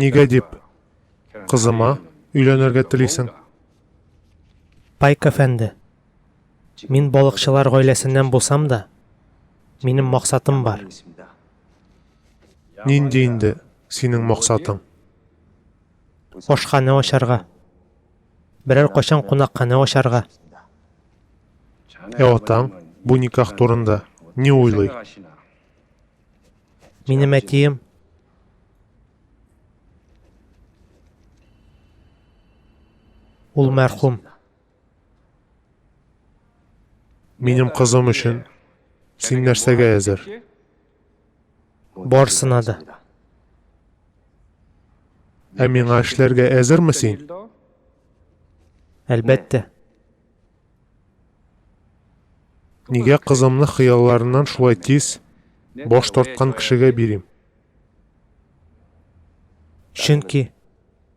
Нигә дип кызыма өйләнергә телисең? Пайк әфәнде, мин балыкчылар гаиләсеннән булсам да, Минем максатым бар. Нинди инде синең максатың? Ашханә ачарга. Берәр кайчан кунакханә ачарга. Ә атаң бу никах турында не уйлый? Минем әтием Ул мәрхүм. Минем кызым өчен син нәрсәгә әзер? Барсына да. Ә миңа эшләргә әзерме син? Әлбәттә. Нигә кызымны хыялларыннан шулай тиз баш тарткан кешегә бирим? Чөнки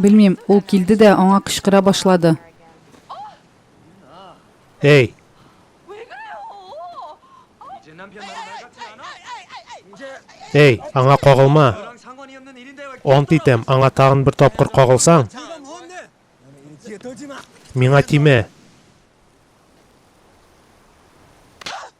Белмим, ул килде дә аңа кычкыра башлады. Эй! Эй, аңа кагылма! Ант итәм, аңа тагын бер тапкыр кагылсаң, миңа тимә!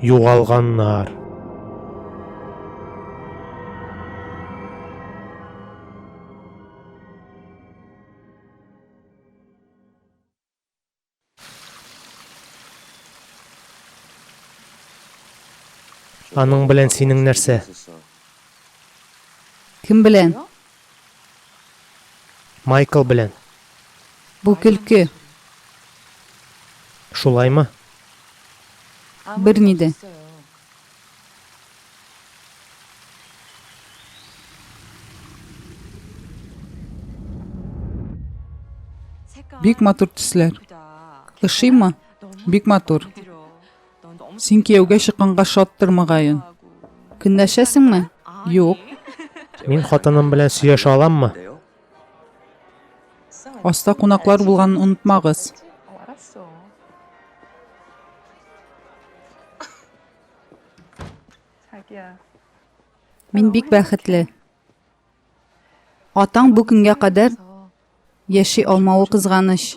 Югалганнар. Аның белән синең нәрсә? Кем белән? Майкл белән. Бу көлке. Шулаймы? Берни дә. Бик матур төсләр. Ошыймы? Бик матур. Син кияүгә чыкканга шаттыр, мөгаен. Көнләшәсеңме? Юк. Мин хатыным белән сөйләшә аламмы? Аста кунаклар булганын онытмагыз. Мин бик бәхетле. Атаң бу көнгә кадәр яши алмавы кызганыч.